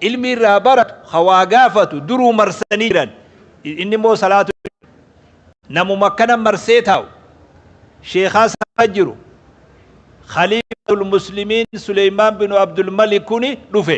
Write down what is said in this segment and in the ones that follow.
ilmi irraa baratu ka waa gaafatu duruu marsanii jiran inni immoo salaatu namuma akkana marsee taa'u sheekaa sana jiru khaliifatul muslimiin Suleymaan binu Abdul Malik kuni dhufe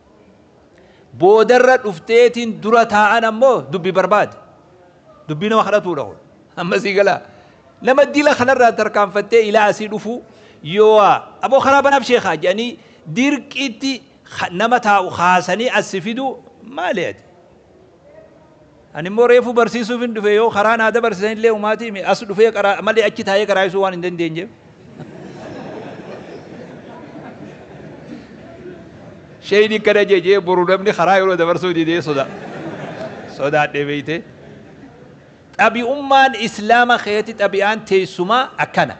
boodarra dhufteetiin dura taa'an ammoo dubbi barbaade dubbii nama kadhatuudha kun amma sii galaa nama dila kanarraa tarkaanfattee ilaa asii dhufuu yoo'aa aboo karaa banaaf sheekaa jedhanii dirqiitti nama taa'u kaasanii assi fiduu maali ati Ani immoo reefuu barsiisuufin dhufe yoo karaa naa dabarsisan illee umaatii mi as dhufee qaraa malee achi taa'ee qaraayisuu waan hin dandeenyeef. Sheyni akkana jee jee boru namni karaa yeroo dabarsuu didee soda sodaadhee beeytee. Xabi'ummaan islaama keessatti xabi'aan teessumaa akkana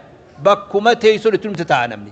bakkuma teessun itti dhumte taa'a namni.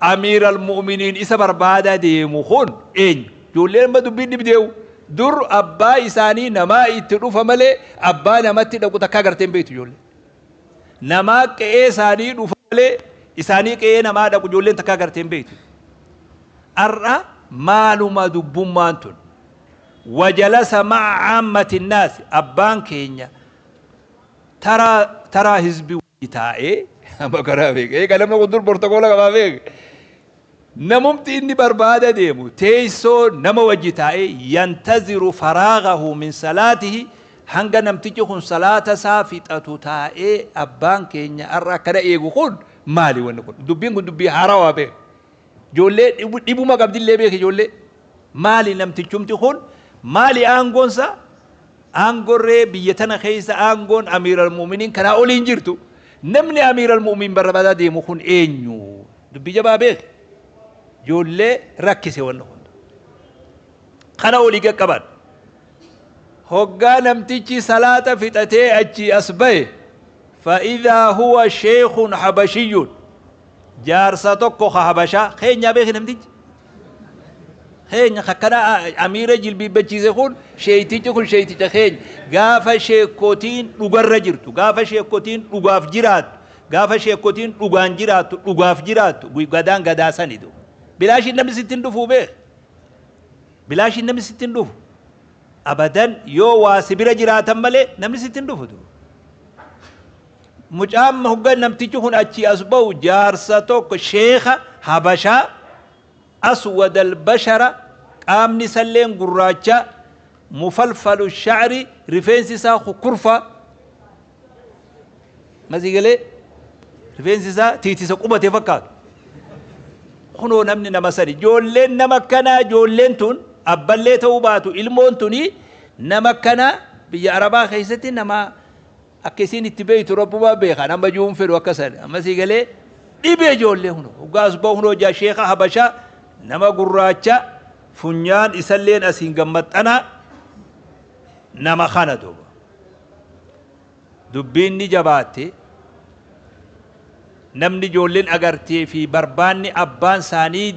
Amiir al-Mu'uminiin isa barbaadaa deemu kun eenyu? Ijoolleen amma dubbiin dhibdeewu. Dur abbaa isaanii namaa itti dhufa malee abbaa namatti dhaqu takka agartee hin beektu ijoolleen. Namaa qe'ee isaanii dhufa malee isaanii qe'ee namaa dhaqu ijoolleen takka agartee hin beektu. Har'a maaluma dubbummaan tun? Wajalasa ma'a aammati naasi abbaan keenya taraa taraa hizbii itaa'ee amma karaa beeka. Eega namni kun dur bortokoola qabaa beeka. Namumti inni barbaada deemu teessoo nama wajji taa'ee yantaziru faraagahu min salaatihi hanga namtichi kun salaata isaa fixatu taa'ee abbaan keenya har'a akkana eegu kun maali wanni kun dubbiin kun dubbii haarawaa beeka. Ijoollee dhibu- dhibuma qabdillee beeka ijoollee. Maali namtichumti kun maali aangoonsa Aangorree biyya tana keessa aangoon Amiir Al-Mu'miniin kanaa oli hin jirtu. Namni Amiir Al-Mu'min barabaadaa deemu kun eenyu? Dubbii jabaa beeki. Ijoollee rakkise wanni kun. Kana olii qaqqaban. Hoggaa namtichi salaata fixatee achii as bahe. Fa'idaa huwa sheekhun habashiyyuun. Jaarsa tokko ka Habashaa keenyaa beeki namtichi. Keenya kakkana amiira jilbiibbachiise kun sheeytichi kun sheeyticha keenya. Gaafa sheekkotiin dhugarra jirtu, gaafa sheekkotiin dhugaaf jiraattu, gaafa sheekkotiin dhugaan jiraattu, dhugaaf jiraattu, gadaan gadaa sanidu. Bilaashiin namni sitti hin dhufuu beeki. Bilaashiin namni sitti hin dhufu. Abadan yoo waa si bira jiraatan malee namni sitti hin dhufutu. Mucaan hogga namtichi kun achii as ba'u jaarsa tokko sheekha habashaa aswad albashara qaamni isalleen gurraacha mufalfalu shacri rifeensi isaa kukkurfa masii galee rifeensi isaa tiitisa qubate fakkaatu kunoo namni nama sani ijoolleen nama akkanaa ijoolleen tun abballee ta'uu baatu ilmoon tuni nama akkanaa biyya arabaa keessatti nama Akka isiin itti beeytu rabbumaa beeka nama juu hin fedhu akka san amma sii galee dhibe ijoollee huno hoggaa as ba'u hunoo jaa sheeka habashaa nama gurraacha funyaan isalleen asiin gammaxxanaa nama kana duuba dubbiin ni jabaatte namni ijoolleen agartee fi barbaanni abbaan isaanii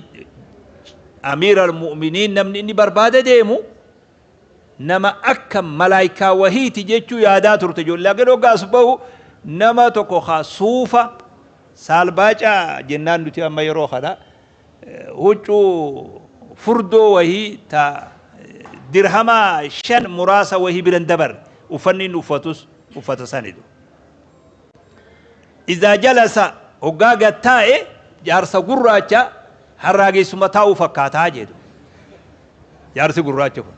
amiira almu'miniin namni inni barbaada deemu Nama akka malaaykaa wahiiti jechuu yaadaa turte ijoollee. Laakiin hoggaa as bahu nama tokko ka suufa saalbaaca jennaan nuti amma yeroo kana huccuu furdoo wahii ta dirhama shan muraasa wahii bira hin dabarre. Uffanni inni uffatus uffata sani ture. Izaa jalasa hoggaa gad taa'e jaarsa gurraacha harraageessuma taa'u fakkaata jedhu. jaarsi gurraacha kun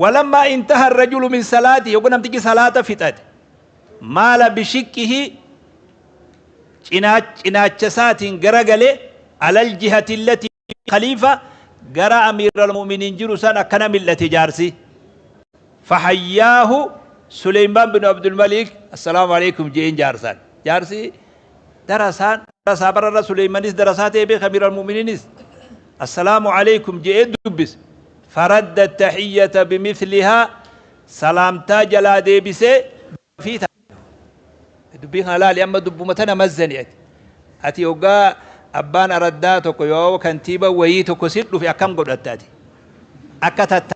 walammaa intaha rajulu min salaati yogguu namtichi salaata fixate maala bishiqqihi cinaacha isaatiin garagale alal jihati illati khaliifa gara amiira almu'miniin jiru san akkana mil'ate jaarsi fahayyaahu suleymaan bin abdulmalik assalaamu alaikum je'een jaarsaan jaarsi Darasaan darasaa bara irra Suleymanis darasaa ta'e beeka Amiir al-Mu'miniinis Assalaamu Aleykum je'ee dubbise. Faradda tahiyyata bimithlihaa Salaamtaa jalaa deebisee gaaffii taasise. Dubbii kana laali amma dubbuma tana mazzani ati. Ati hoggaa abbaan araddaa tokko yoo kantiiba wayii tokko si dhufe akkam godhatta ati? Akka tatta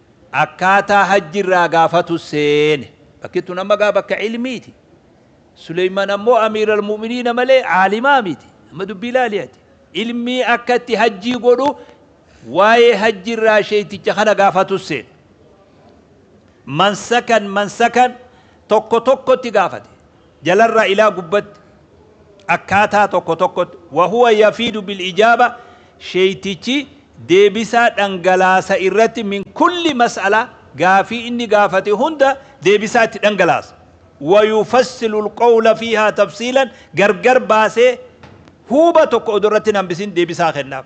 Akkaataa hajji irraa gaafatu seene. Bakki tun amma gaa bakka ilmiiti. Suleyman ammoo Amiir al-Mu'miniina malee aalimaa miti. Amma dubbii ilaali ati. Ilmii akka itti hajjii godhu waa'ee hajji irraa sheeyticha kana gaafatu seene. Mansakan mansakan tokko tokkotti gaafate. Jalarraa ilaa gubbatti akkaataa tokko tokkotti, wa huwa yafiidu bil ijaaba, sheeytichi deebisaa dhangalaasa irratti min kulli mas'ala, gaafii inni gaafate hunda deebisaa itti dhangalaasa. Wa yufassilu al qawla fiihaa tafsiilan, gargar baasee huuba tokko odoo irratti hin hambisin deebisaa kennaaf.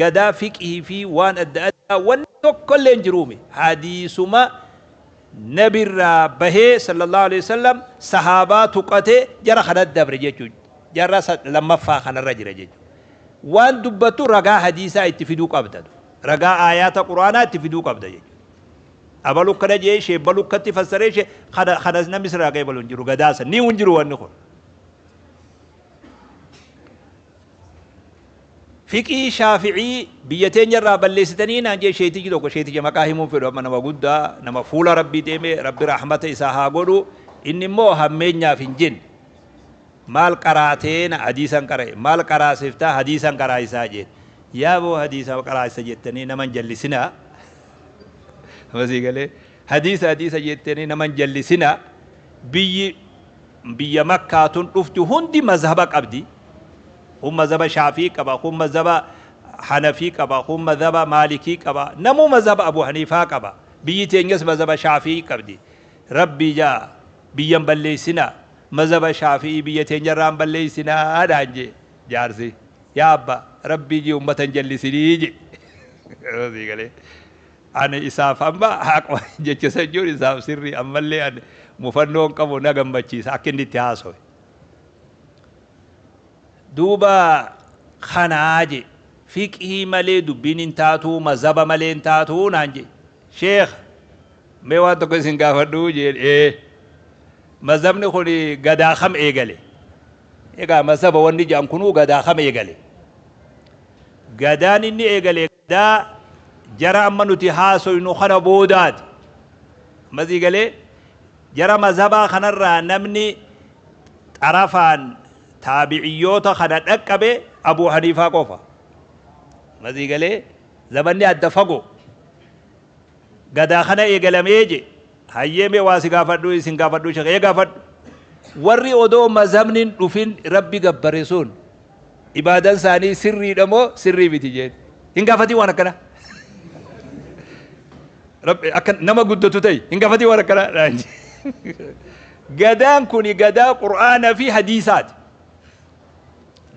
gadaa fiqhii fi waan adda addaa wanni tokkolleen jiruumi hadiisuma nabirraa bahee sallallahu aleyh wasallam sahaabaa tuqatee jara kanatti dabre jechuu jara lammaffaa kanarra jira jechuu waan dubbattu ragaa hadiisaa itti fiduu qabda ragaa aayaata quraanaa itti fiduu qabda jechuu abalu kana jee shee balu katti fassaree shee kana kanas namni sirraa qeebalu hin jiru gadaasa ni hin jiru wanni kun Fiqhii Shaafi'ii biyya teenya irraa balleessitanii naan jee sheeytichi tokko sheeyticha maqaa himuun fedhu amma nama guddaa nama fuula Rabbii deeme Rabbi rahmata isaa haa godhu inni immoo hammeenyaaf hin jenne maal qaraatee na hadiisan qara'e maal qaraasiftaa hadiisan qaraayisaa jeen yaaboo hadiisa qaraasisa jettanii nama hin jallisinaa masii galee Hadiisa hadiisa jettanii nama hin jallisinaa biyyi biyya makkaa tun dhufti hundi mazhaba qabdi kun mazhaba shaafii qaba kun mazhaba hanafii qaba kun mazhaba maalikii qaba namuu mazhaba abu haniifaa qaba biyyi teenyas mazhaba shaafii qabdi rabbii jaa biyyan balleessinaa mazhaba shaafii biyya teenyarraa hin balleessinaa dhaan jee jaarsi yaa abba rabbii jee ummata hin jallisinii jee Ani isaaf amma haqu jecha san jechuun isaaf sirrii ammallee ani mufannoon qabu na gammachiisa akka inni itti haasawe. Duuba kanaa je fiqhii malee dubbiin hin taatuu mazhaba malee hin taatuu naan je sheekha mee waan tokko isin gaafadhuu jeen ee mazhabni kun gadaa kam eegale egaa mazhaba wanni je'an kunuu gadaa kam eegale gadaan inni eegale Daa jara amma nuti haasoynu kana boodaati. Amma sii galee? Jara mazhabaa kanarraa namni xarafaan taabi'iyyoota kana dhaqqabe Abuu Haniifaa qofa. Amma sii galee? Zamanni adda fagoo. Gadaa kana eegalamee je. Hayyee mee waa si gaafadhu isin gaafadhu shekh ee gaafadhu warri odoo mazhabni hin dhufin rabbi gabbare sun ibaadan isaanii sirriidha moo sirrii miti jeen hin gaafatin waan akkana rabbi akka nama guddatu ta'i hin gaafatin waan akkana naan jee. gadaan kuni gadaa qur'aana fi hadiisaati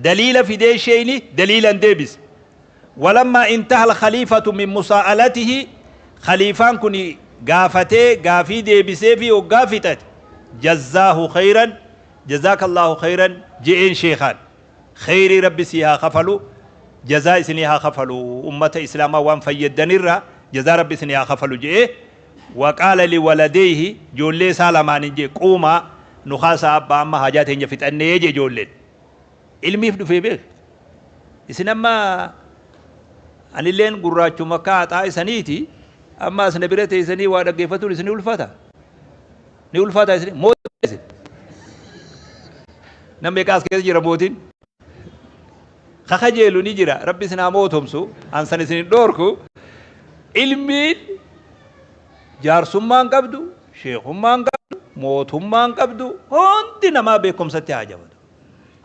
daliila fidee sheeyni daliilan deebise Walammaa intahal khaliifatu min musaa'alatihi khaliifaan kun gaafatee gaafii deebiseefii hoggaa fixate jazzaahu khayran jazaakallaahu khayran je'een sheekhaan kheyrii rabbi sii haa kafalu jazaa isinii haa kafalu ummata islaamaa waan fayyaddanirraa jazaa rabbi isinii haa kafalu je'ee waqaala liwaladeyhi joollee isaa lamaaniin je'e quumaa nu kaasaa abbaa amma haajaa teenya fixannee je'e joolleen Ilmiif dhufee beeka. Isin amma anilleen gurraachuma akka haxaa isaniiti amma as na bira teessanii waa dhaggeeffatuun isin ulfata. Ni ulfata isin mootii isin. Namni egaa as keessa jira mootiin. Kakajeelu ni jira rabbi isin haa mootomsu ansan isin hin dhoorku. Ilmiin jaarsummaan qabdu sheekummaan qabdu mootummaan qabdu hundi namaa beekumsatti haa jabatu.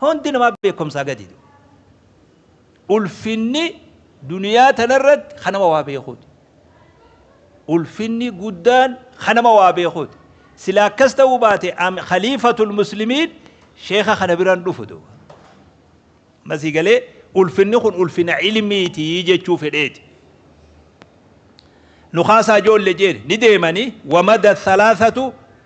Hundi namaa beekumsaa gadi du'u. Ulfinni duniyaa tanarratti kan nama waa beekuuti. Ulfinni guddaan kan nama waa beekuuti. Sila akkas ta'uu baate khaliifatul muslimiin sheeka kana biraan dhufu duuba. Masii galee ulfinni kun ulfina ilmiiti jechuu fedheeti. Nukaasaa ijoollee jeeni ni deemanii wamada thalaasatu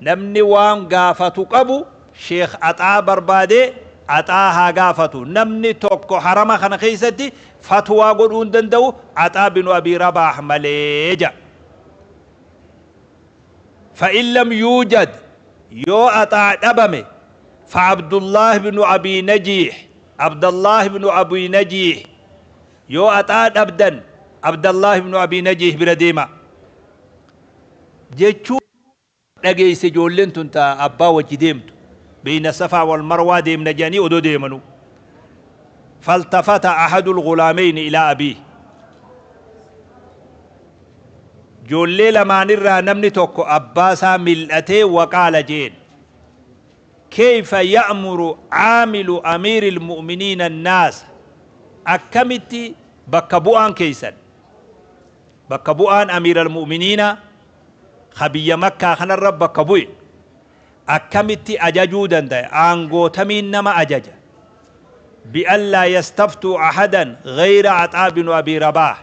Namni waan gaafatu qabu sheikh axaa barbaadee axaa haa gaafatu namni tokko harama kana keessatti fatwaa godhuu hin danda'u axaa binu abii rabaah malee ja fa'in lam yuujad yoo axaa dhabame fa abdullaah binu abii najiih abdallaah binu abii najiih yoo axaa dhabdan abdallaah binu abii najiih bira deemaa jechuu dhageesse ijoolleen tun ta abbaa wajji deemtu beeyna safaa wal marwaa deemna jedhanii odoo deemanu faltafata ahadul ghulaameyni ilaa abiih ijoollee lamaan irraa namni tokko abbaa isaa mil'atee waqaala jeen keeyfa ya'muru aamilu amiiri ilmu'miniina annaasa akkamitti bakka bu'aan keeysan bakka bu'aan Amiir Al-Mu'miniina ka biyya Makkaa kanarra bakka bu'e akkamitti ajajuu dandaya? Aangoo tamiin nama ajaja? Bi an laa yastaftuu ahadan ghayra Axaa binu Abii Rabaah.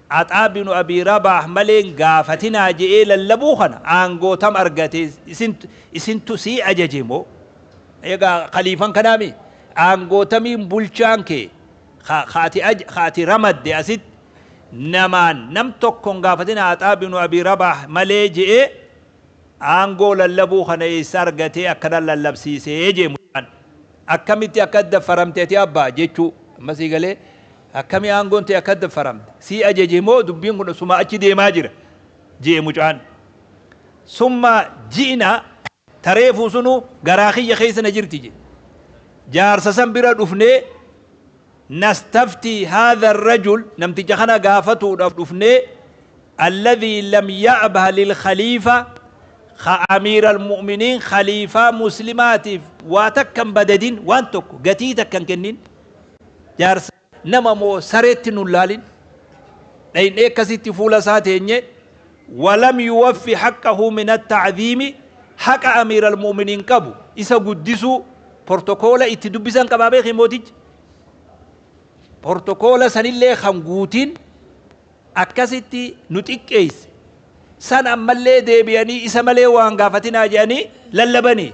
Axaa binu Abii Rabaah malee hin gaafatinaa je'ee lallabuu kana aangoo tam argate? Isintu sii ajaje moo? Eegaa khaliifan kanaa mii? Aangoo tamiin bulchaan kee ka ka ati aj ka ati ramadde asitti namaan nam tokko hin gaafatin Aaxaa binu Abii Rabaah malee je'ee aangoo lallabuu kana eessa argatee akkana lallabsiisee je'e mucaan akkamitti akka daffaramte ati abba jechuu amma sii galee akkami aangoon tee akka daffaramte sii ajaje moo dubbiin kun suma achi deemaa jira je'e mucaan summa ji'na Ta reefuu sunuu garaa kiyya keessa na jirti je. Jaarsa san bira dhufnee nastaftii haadha rajul namticha kana gaafatuudhaaf dhufnee alladhii lam ya'bah lil khaliifa ka amiira almu'miniin khaliifaa muslimaatiif waa takka hin badadin waan tokko gatii takka hin kennin jaarsa Nama moo sareetti nun laalin. Dhaynee akkasitti fuula isaa teenye, Walam yuwaffi haqqahu min atta'dhiimi Haqa Amiir Al-Mu'miniin qabu, isa guddisuu, portokoola itti dubbisan qabaa beeki mootichi? Portokoola sanillee kan guutin akkasitti nu xiqqeesse. San ammallee deebi'anii isa malee waa hin gaafatinaa jedhanii lallabanii.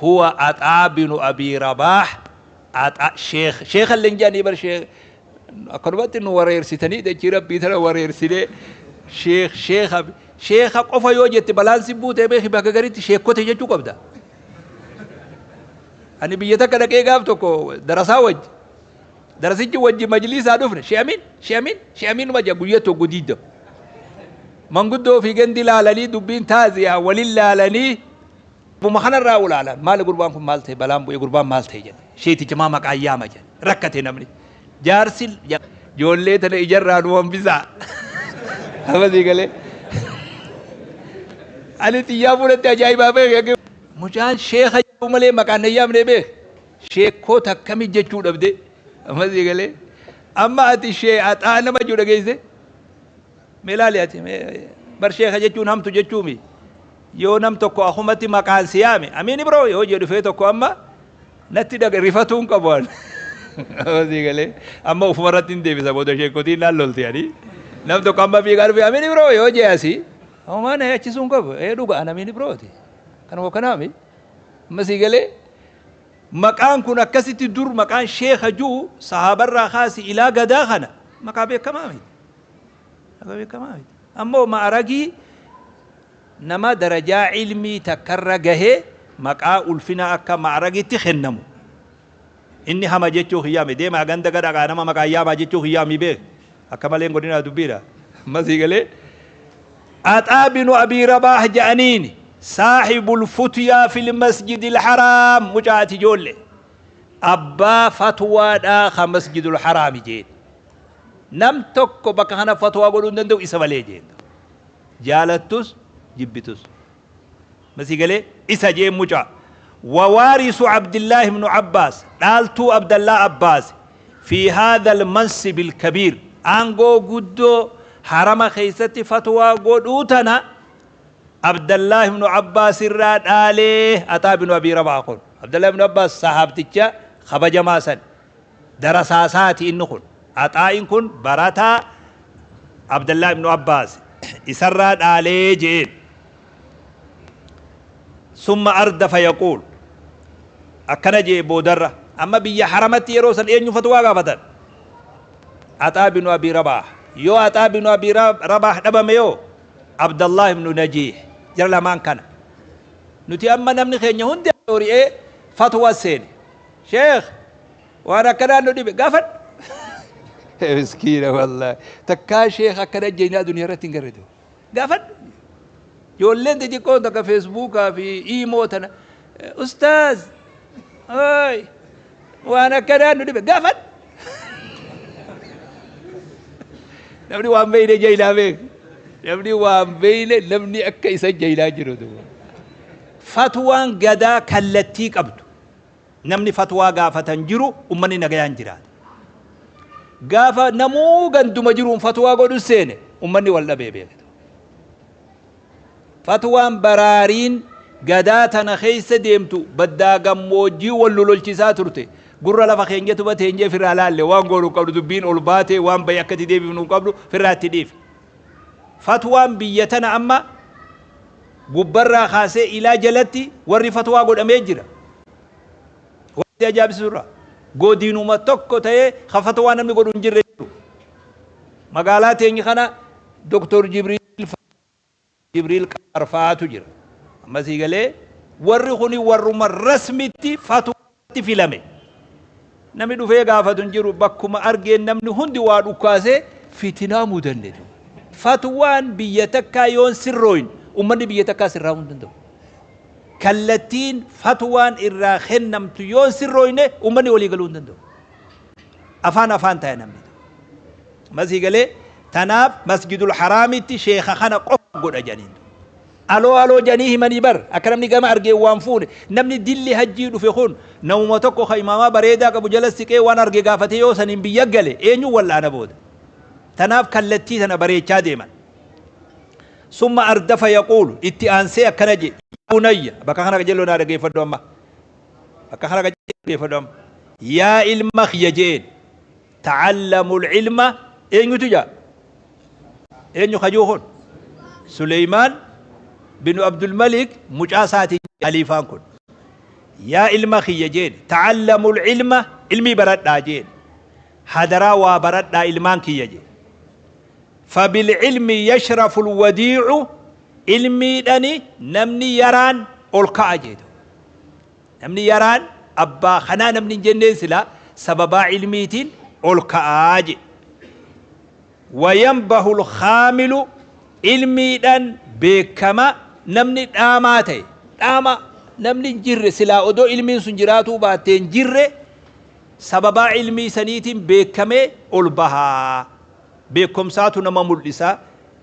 huwa axaa binu abii rabaax axa sheekh sheekha illee hin jedhanii bar sheekh akkanumatti nu wareersitanii dachii rabbii tana wareersinee sheekh sheekha sheekha qofa yoo jette balaan si buutee beeki bakka garitti sheekkote jechuu qabda ani biyya takka dhaqee gaaf tokko darasaa wajji darasichi wajji majliisaa dhufne she'amiin she'amiin she'amiin maja guyya tokko diidam manguddoo fi gandi laalanii dubbiin taaziyaa walin laalanii Abbuma kana irraa ulaalaan maali gurbaan kun maal ta'e balaan bu'ee gurbaan maal ta'e jedhe. Sheeticha maa maqaan yaama jedhe. Rakkate namni. Jaarsi ja- joollee tana ijarraa nu hambisaa. Amasii galee. Ani xiyyaa fuudhatti ajaa'ibaa beeke. Mucaan sheeka jedhu malee maqaan na yaamne beek. Sheekkoo takkami jechuu dhabde. Amasii galee. Amma ati shee axaa nama jechuu dhageesse. Mee ilaali ati mee bar sheeka jechuun hamtu jechuumi yoo nam tokko akumatti maqaan si yaame amiin ibroo yoo jedhu fee tokko amma natti dhaga rifatuu hin qabu an Hosii galee amma ufuma irratti hin deebisa booda sheekotiin naan lolti ani nam tokko amma fiigaa dhufe amiin ibroo yoo jee asi homaa na yaachisuu hin qabu ee dhuga an amiin ibrooti kan koo kanaami amma sii galee maqaan kun akkasitti dur maqaan sheeka juu sahaabarraa kaasi ilaa gadaa kana maqaa beekamaa miti Lafa beekamaa miti. Ammoo ma'aragii nama darajaa ilmii takkarra gahe maqaa ulfinaa akka ma'aragitti kennamu. Inni hama jechuu kiyyaami. Deemaa ganda gadhaqaa nama maqaan yaamaa jechuu kiyyaami beek. Akka malee hin godhinaa dubbiidha. Amma sii galee. Axaa binu Abii Rabaah ja'aniini. Saahibul futyaa fil masjidil haraam. Mucaa ati joolle. Abbaa fatwaadhaa ka masjidul haraami jeeni. Nam tokko bakka kana fatwaa godhuu hin danda'u isa malee jeen dur. Jaalattus jibbitus. Ma sii galee? Isa jeen mucaa. Wawaarisu Abdillaah ibnu Abbaas, dhaaltuu Abdallaa Abbaasi, fi haadhal mansibil kabiir, aangoo guddoo harama keessatti fatwaa godhuu tana Abdallaah ibnu Abbaas irraa dhaalee Axaa binu Abii Rabah kun. Abdallaah ibnu Abbaas sahaabticha kabajamaa sani. Darasaa isaati inni kun. Axaa'iin kun barataa Abdallah ibnu Abbaas isarraa dhaalee je'een. Summa ardafa yaquul. Akkana je'e boodarra. Amma biyya haramatti yeroo san eenyu fatwaa gaafatan? Axaa binu Abii Rabaah. Yoo Axaa binu Abii Rabaah dhabame yoo Abdallah ibnu Najiih. Jara lamaan kana. Nuti amma namni keenya hundi ari'ee fatwa seene. Sheikh waan akkanaa nu dhibe gaafadhu. Miskiina wallaahi. Takkaa sheekh akkana jeenyaa duniyaa irratti hin garre ta'u. Gaafadhu. Ijoolleen xixiqqoon takka feesbuukaa fi iimoo tana ustaaz ooy waan akkanaa nu dhibe gaafadhu. Namni waan beeyne jeeylaa beek. Namni waan beeyne namni akka isa jeeylaa jiru duuba. Fatwaan gadaa kallattii qabdu. Namni fatwaa gaafata hin jiru, ummanni nagayaan jiraata. Gaafa namuu ganduma jiruun fatwaa godhu seene ummanni wal dhabee beektu. Fatwaan baraariin gadaa tana keessa deemtu baddaa gammoojjii wal nu lolchisaa turte. Gurra lafa keenya tuba teenyee firraa laalle waan goonu hin qabnu dubbiin ol baate waan baye akka itti deebifnu hin qabnu firraa itti dhiifne. Fatwaan biyya tana amma gubbarraa kaasee ilaa jalatti warri fatwaa godhamee jira. Waan si ajaa'ibsiisu irraa godinuma tokko ta'ee ka fatwaa namni godhu hin jirre jiru. Magaalaa teenya kana Doktor Jibriil fa'aa Jibriil Qamaar fa'aatu jira. Amma sii galee warri kuni warruma rasmitti fatwaa tti filame. Namni dhufee gaafatu hin jiru. Bakkuma argeen namni hundi waa dhukkaasee fitinaa mudanne ture. Fatwaan biyya takkaa yoon sirrooyin ummanni biyya takkaa sirraa'uu hin danda'u. Kallattiin fatwaan irraa kennamtu yoon sirrooyne ummanni walii galuu hin danda'u. Afaan afaan ta'a namni. Amma sii galee tanaaf masjidul haraamitti sheekha kana qofa godha jedhaniin. Aloo aloo janii himanii bar akka namni gama argeen waan fuune namni dilli hajjii dhufe kun namuma tokko ka imaamaa bareedaa qabu jala siqee waan arge gaafatee yoo saniin biyya gale eenyuun wal'aana booda tanaaf kallattii tana bareechaa deeman summa ardafa yaquulu itti aansee akkana je yaa bunayya bakka kana qajeeloo naa dhageeffadhu amma bakka kana qajeeloo dhageeffadhu amma yaa ilma kiyya je'een Ta'allamul ilma eenyutu ja'a? Eenyu kajuu kun? Suleymaan binu Abdul Malik mucaa isaatiin haliifaan kun. Yaa ilma kiyya jeeni ta'allamul ilma ilmii baradhaa jeeni. Hadaraa waa baradhaa ilmaan kiyya jee. Fabil ilmi yashraful wadiicu ilmiidhani namni yaraan ol ka'a jeetu. Namni yaraan abbaa kanaa namni hin jenneen silaa sababaa ilmiitiin ol ka'aa je. Wayanbahu lkaamilu ilmiidhan beekkama namni dhaamaa ta'e. Dhaama namni hin jirre silaa odoo ilmiin sun jiraatuu baattee hin jirre sababaa ilmii saniitiin beekkamee ol bahaa. Beekkomsaatu nama mul'isa.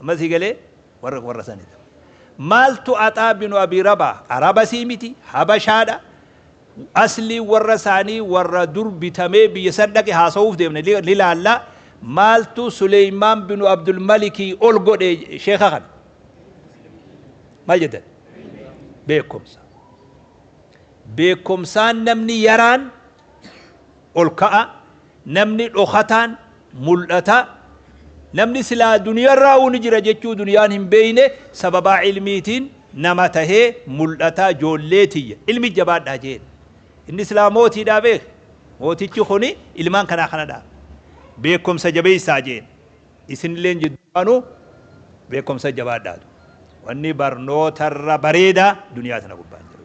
Amma sii galee? Warra warra sanidha. Maaltu Axaa binu Abii Rabaa? Arabasii miti, Habashaadha. Asliin warra isaanii warra dur bitamee biyya san dhaqe haasawuuf deemne ni ni laalla. Maaltu Suleymaan binu Abdul Malikii ol godhe sheeka kana? Maal jettan? Beekumsa. Beekumsaan namni yaraan ol ka'a, namni dhokataan mul'ata, namni silaa duniyarraa'uu ni jira jechuu duniyaan hin beeyne sababaa ilmiitiin nama tahee mul'ata joollee tiyya ilmi jabaadhaa jeen inni silaa mootiidhaa beek mootichi kuni ilmaan kanaa kanadhaa beekomsa jabeessaa jeen isinilleen jidduwaanuu beekomsa jabaadhaatu wanni barnootarra bareedaa duniyaa tana gubbaan jiru.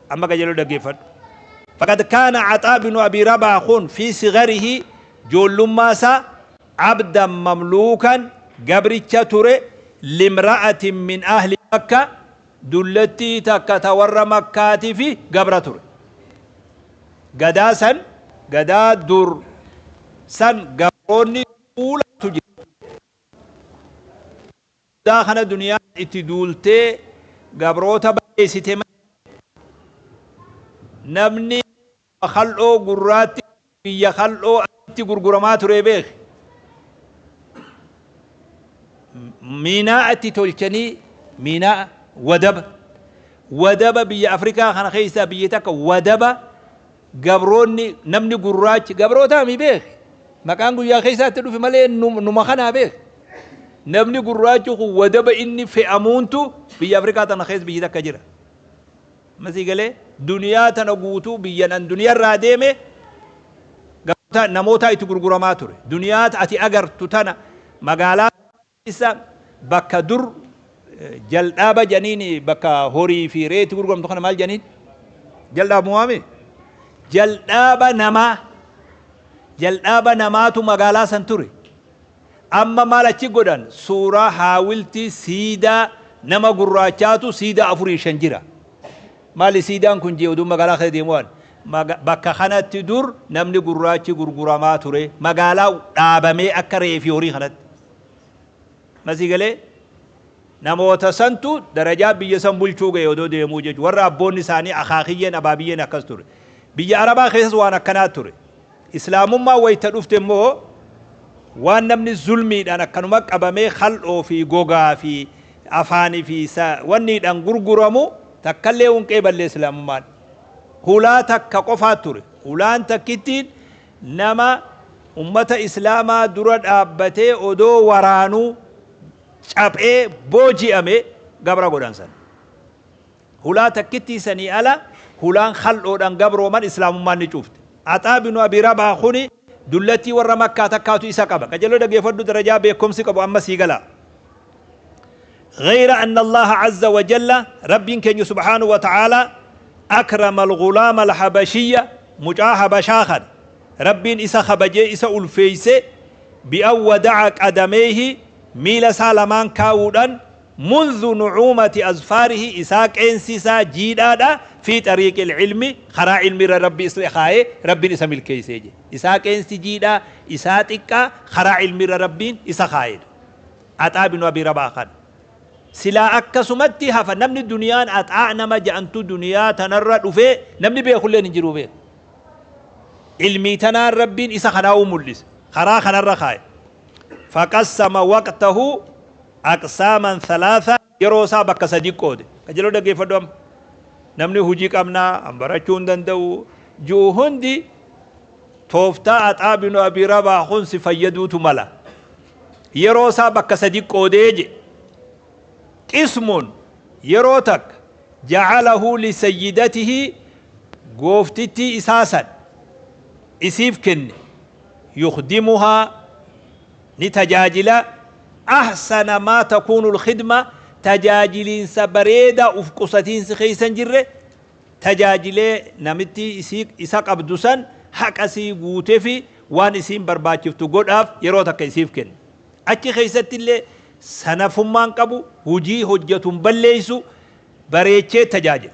amma qajeeloo dhaggeeffadhu faqad kaana caxaa binu abii rabaa kun fi sigarihi joollummaa isaa abdan mamluukan gabricha ture limra'atin min ahli makka dullattii takka ta warra makkaatifi gabra ture gadaa san gadaa dur san gabroonni tuulatu jira Guddaa kana duniyaan itti duultee gabroota balleessite malee namni lafa kal'oo gurraatti biyya kal'oo asitti gurguramaa ture beeki. Miinaa'a itti tolchanii miinaa'a wadaba wadaba biyya Afrikaa kana keessaa biyyi takka wadaba gabroonni namni gurraachi gabrootaa mi beeki maqaan guyyaa keessaatti dhufe malee numa kanaa beeki namni gurraachi kun wadaba inni fe'amuuntu biyya Afrikaa tana keessa biyyi takka jira. Masii galee duniyaa tana guutuu biyyan an duniyarraa deeme namootaa itti gurguramaa ture. Duniyaa ati agartu tana magaalaa keessa bakka dur jaldhaaba jedhaniin bakka horii fi re'ee itti gurguramtu kana maal jedhaniin? Jaldhaaba moo waame? Jaldhaaba namaa. Jaldhaaba namaatu magaalaa san ture. Amma maal achi godhan? Suuraa haawiltii siidaa nama gurraachaatu siidaa afurii shan jira. Maali siidaan kun jee utuun magaalaa keessa deemuu arge. Bakka kanatti dur namni gurraachi gurguramaa ture. Magaalaa dhaabamee akka re'ee fi horii kanatti. Amma sii galee? Namoota santu darajaa biyya san bulchuu ga'e odoo deemuu jechuudha. Warra abboonni isaanii akaakiyyeen abaabiyyeen akkas ture. Biyya Arabaa keessas waan akkanaa ture. Islaamummaan wayta dhufte immoo waan namni zulmiidhaan akkanuma qabamee kal'oo fi gogaa fi afaani fi sa, wanniidhaan gurguramu takkallee hin qeeballe Islaamummaan. Hulaa takka qofaa ture. Hulaan takkittiin nama ummata Islaamaa dura dhaabbatee odoo waraanuu caphee booji'ame gabra godhan san. Hulaa takkittii sanii ala hulaan khal'oodhaan gabrooman Islaamummaan ni cuufte. Axaa binu Abii Rabaah kuni dullattii warra Makkaa takkaatu isa qaba. Qajeeloo dhaggeeffadhu darajaa beekkomsi qabu amma sii gala. Ghayra anna Allaaha Azza wa Jalla, Rabbiin keenya subhaanahu wa ta'aalaa, akrama al-ghulaama al-habashiyya, mucaa Habashaa kana, Rabbiin isa kabajee isa ulfeeyse, bi an wada'a qadameyhi, miila isaa lamaan kaawuudhaan, Mundhu nu'uumati azfaarihi isaa qeensi isaa jiidhaadha fii xariiqil ilmi karaa ilmi irra Rabbi isle kaayee Rabbin isa milkeeysee jee. Isaa qeensi jiidhaa isaa xiqqaa karaa ilmi irra Rabbiin isa kaayedha. Axaa binu abii rabaah kana. Silaa akkasumatti hafa namni duniyaan axaa nama ja'antu duniyaa tanarra dhufee namni beekulleen hin jiruu beeka. Ilmii tanaan Rabbiin isa kanaa'uu mul'ise. Karaa kanarra kaaye. Faqassama waqtahu aqsaaman thalaatha. Yeroo isaa bakka sadiitti qoode. Qajeeloo dhaggeeffadhu amma. Namni hujii qabna, an barachuu hin danda'u ju'u hundi tooftaa Axaa binu Abii Rabaah kun si fayyaduutu mala. Yeroo isaa bakka sadiitti qoodee je. Qismun yeroo takka ja'alahu li sayyidatihi gooftittii isaa san isiif kenne yukhdimuhaa ni tajaajila ahsana maa takuunu lkhidma tajaajiliinsa bareeda uf qusatiinsi keessa hin jirre tajaajilee namitti isii isa qabdu san haqa isii guutefi waan isiin barbaachiftu godhaaf yeroo takka isiif kenna achi keessattillee sanafummaan qabu hujii hojjatu hin balleeysu bareechee tajaajila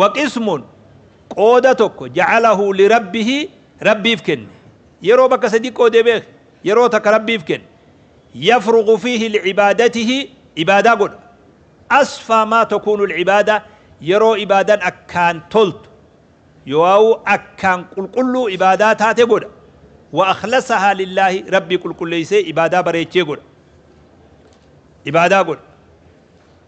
waqismun qooda tokko ja'alahu lirabbihi rabbiif kenne yeroo bakka sadi qoodee beek yeroo takka rabbiif kenne yafruqu fiihi licibaadatihi ibaadaa godha asfaa maa takuunu lcibaada yeroo ibaadan akkaan toltu yoo'aa'u akkaan qulqulluu ibaadaa taate godha wa akhlasahaa lillaahi rabbii qulqulleeysee ibaadaa bareechee godha ibaadaa godha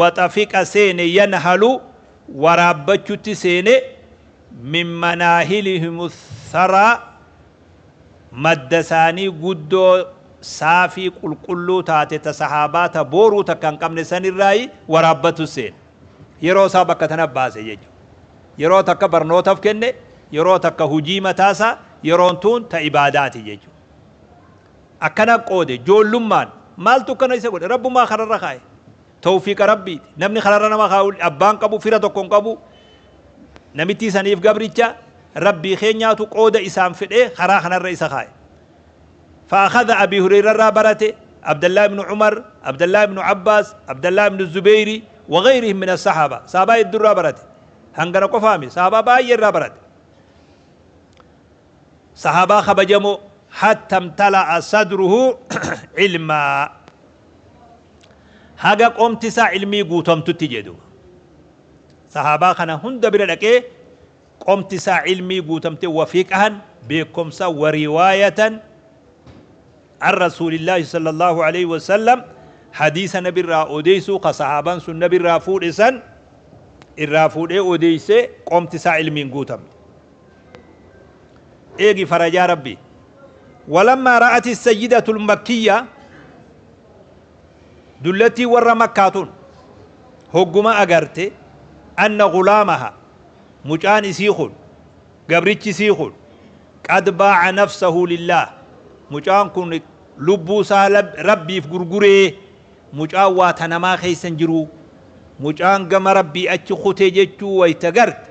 waxa fiqa seene yanhalu waraabbachutti seene min manaahilihim tharaa madda isaanii guddoo saafii qulqulluu taate ta sahaabaa ta booruu takka hin qabne san irraayi waraabbatu seene yeroo isaa bakka tanaf baase jechu yeroo takka barnootaf kenne yeroo takka hujii mataa isaa yeroon tuun ta ibaadaati jechu Akkana qoode, joollummaan. Maaltu akkana isa godhe? Rabbumaa kararra kaa'e. Towfiiqa Rabbiiti. Namni kararra nama kaa'u abbaa hin qabu, fira tokko hin qabu. Namittii saniif gabricha Rabbii keenyaatu qooda isaan fedhee karaa kanarra isa kaa'e. Fa'akhadha Abii Hurayrarraa barate, Abdallaa ibnu Umar, Abdallaa ibnu Abbaas, Abdallaa ibnu Zubeyri, wagayrihim min assahaaba. Sahaabaa heddurraa barate. Hangana qofaami. Sahaabaa baay'eerraa barate. Sahaabaa kabajamoo hatta imtala'a sadruhu ilmaa haga qomti isaa ilmii guutamtutti jee duuba sahaabaa kana hunda bira dhaqee qomti isaa ilmii guutamte wafiqahan beekomsa wariwaayatan an rasuulillaahi sallallahu alayhi wasallam hadiisa nabi irraa odeysuu ka sahaabaan sun nabi irraa fuudhe san irraa fuudhee odeysee qomti isaa ilmiin guutamte eegi farajaa rabbii walammaa ra'ati sayyidatul makkiyyaa dullattiin warra makkaa tun hogguma agarte anna gulaamaha mucaan isii kun gabrichi isii kun qad baaca nafsahu lillaah mucaan kun lubbuu isaa lab- rabbiif gurguree mucaan waa ta namaa keessa hin jiruu mucaan gama rabbii achi kute jechuu wayta garte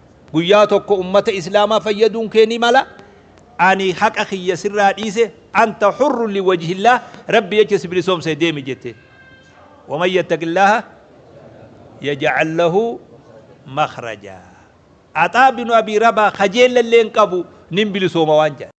Guyyaa tokko ummata islaamaa fayyaduun kee ni mala. Ani haqa kiyya sirraa dhiise anta hurrun liwajhillaah rabbi jecha si bilisoomse deemi jette. Waman yattaqillaaha yaj'al lahu makhraja. Axaa binu abii rabaa kajeellallee hin qabu nin bilisooma waan jedhan.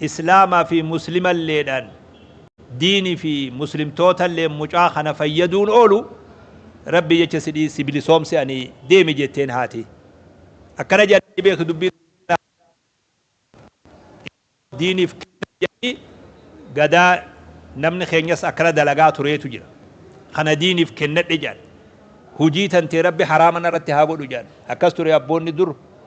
Islaama fi Muslimalleedhaan, diini fi Muslimtootalleen mucaa kana fayyaduun oolu, Rabbii jecha sidhii si bilisoomse'anii deemi jetteen haati. Akkana je'anii ni beektu dubbii tana Rabbii ilmoo diiniif kenna je'anii gadaa namni keenyas akkana dalagaa tureetu jira. Kana diiniif kennadhe je'an. Hujii tantee Rabbi haraama narratti haa godhu je'an. Akkas ture abboonni dur.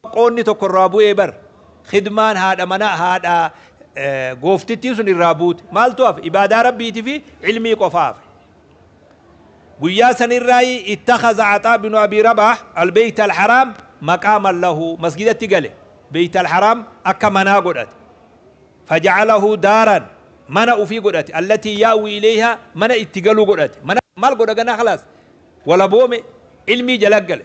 Qoodni tokko irraa bu'ee bar. Khidmaan haadha manaa, haadha gooftittii sun irraa buute. Maaltu hafe? Ibaadaa Rabbiitii fi ilmii qofaa hafe. Guyyaa san irraayi ittakhaza Axaa binu Abii Rabaah al-Beeyt al-Haraam maqaaman lahu. Masgidatti gale. Beeyt al-Haraam akka manaa godhate. Faja'alahu daaran mana ufii godhate. Allatii ya'wii ileeyhaa mana itti galu godhate. Mana maal godha ganaa khalaas? Walaboome, ilmii jala gale.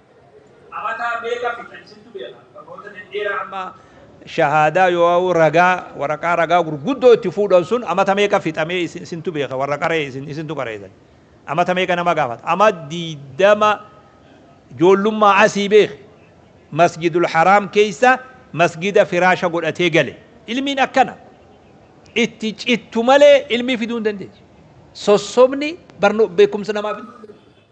Amataa meeqafi kan isintu beeka barnoota dhedheeraa amma shahaadaa yooauu ragaa waraqaa ragaa gurguddoo itti fuudhan sun amata meeqa fixa mee isintu beeka warra qaree isin isintu qareesan amata meeqa nama gaafata ama diidama joollummaa asii beeke masjidul haraam keessa masjida firaasha godhatee gale ilmiin akkana itti cittu malee ilmii fiduu hin dandeessu sossobni barno beekumsa namaa fiduu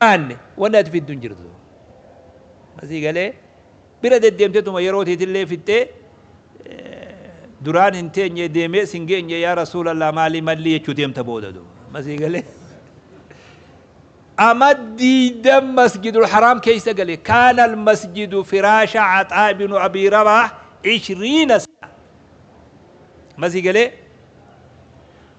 jiraanne wanni ati fiddu hin jirtu. Amma sii galee bira deddeemtetuma yeroo teetillee fixxee duraan hin teenye deemee sin geenye yaa rasuulallah maalii mallii jechuu deemta booda duuba. Amma sii galee ama diidam masjidul haraam keessa gale kaana al masjidu firaasha axaa ibnu abii rabaah ishriina sana. Amma sii galee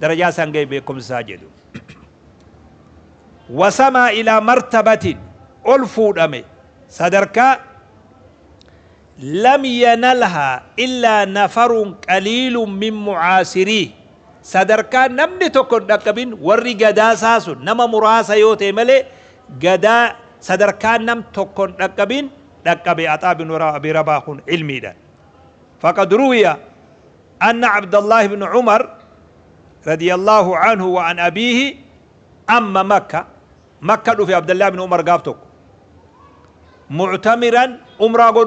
darajaa isaan gahe beekumsa isaa jedhu. Wasamaa ilaa martabatin ol fuudhame sadarkaa lam yanalhaa illaa nafarun qaliilun min mucaasirii sadarkaa namni tokko hin dhaqqabin warri gadaa isaa sun nama muraasa yoo ta'e malee gadaa sadarkaa nam tokko hin dhaqqabin dhaqqabe axaa bin abi rabaa kun ilmiidhaan. Faqad ruwiya Anna Abdallaah ibn Umar radiyallaahu anhu wa an abiihi amma Makka Makka dhufe Abdallaah ibn Umar gaaf tokko mu'tamiran umraa godhuuf